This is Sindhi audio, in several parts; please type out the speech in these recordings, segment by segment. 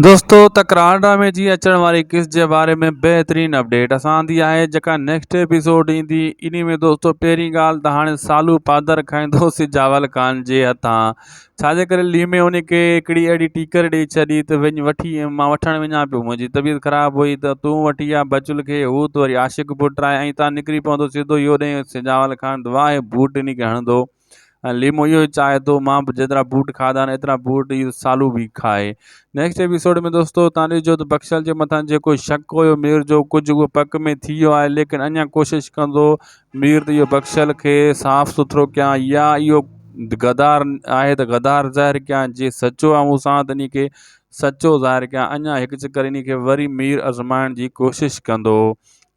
دوستو ته ڪراڻ ڊرامي جي اچڻ واري قسط جي باري ۾ بهترين اپڊيٽ اسان آندي آهي جيڪا نيڪسٽ ايپيسوڊ ايندي انهي ۾ دوستو پهرين ڳالهه ته هاڻي سالو پادر کائيندو سجاول خان جي هٿان ڇا جي ڪري ليمي انهي کي هڪڙي اهڙي ٽيڪر ڏئي ڇڏي ته وڃ وٺي مان وٺڻ وڃان پيو منهنجي طبيعت خراب هئي ته تون وٺي آ بچل کي هو ته وري عاشق پٽ آهي ۽ اتان نڪري پوندو سڌو اهو ڏئي سجاول خان ته واهه بوٽ انهي کي هڻندو ۽ ليمو اهو ئي چاهي ٿو مان به جيترا بوٽ کاڌا آهن ايترا بوٽ اهو سالو به کائي نيڪسٽ ايپيسوڊ ۾ دوستو تان ڏسجو ته بخشل جي مٿان جيڪو شڪ هيو مير جو ڪجهه اهو پڪ ۾ ٿي ويو آهي ليڪن اڃا ڪوشش ڪندو مير ته اهو بخشل کي صاف سٿرو ڪيان يا اهو غدار آهي ته غدار ظاهر ڪيان جي سچو آهي مون سان ته ان کي سچو ظاهر ڪيان اڃا هڪ چڪر ان کي وري مير آزمائڻ جي ڪوشش ڪندو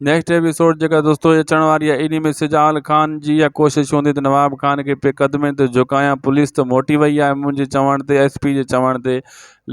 نيڪسٽ ايپيسوڊ جيڪا دوستو اچڻ واري آهي ان ۾ سجال خان جي اها ڪوشش هوندي ته نواب خان کي پي قدمين تي جهڪايان پوليس ته موٽي وئي آهي منهنجي چوڻ تي ايس پي جي چوڻ تي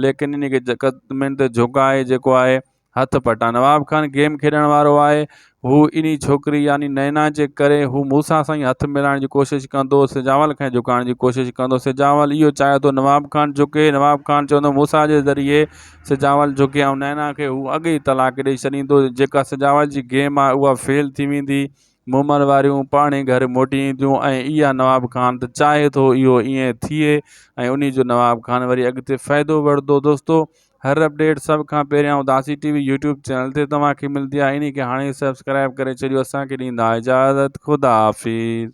ليڪن ان کي قدمين تي جهڪائي جيڪو آهي هٿ پٽان نواب خان گيم کيڏڻ وارو آهي هو انهي ڇوڪري يعني نينا جي ڪري هو موسا سان ئي هٿ ملائڻ جي ڪوشش ڪندو سجاول کي جهڪائڻ جي ڪوشش ڪندو سجاول اهو چاهي ٿو نواب خان جهڪي نواب خان چوندو موسا جي ذريعي سجاول جوکي ۽ نينا کي هو اڳ ئي طلاق ڏئي ڇڏيندو. جيڪا سجاول جي گيم آهي اها فيل ٿي ويندي. مومل واريون پاڻهي گهر موٽي اينديون ۽ اها نواب خان ته چاهي ٿو اهو ائين ٿئي ۽ انهي جو نواب خان وري اڳتي فائدو وٺدو. دوستو هر اپڊيٽ سڀ کان پهريان اداسي ٽي وي يوٽيوب چينل تي توهان کي ملدي آهي انهي کي هاڻي ئي سبسڪرائيب ڪري ڇڏيو اسان کي ڏيندا اجازت خداحافظ.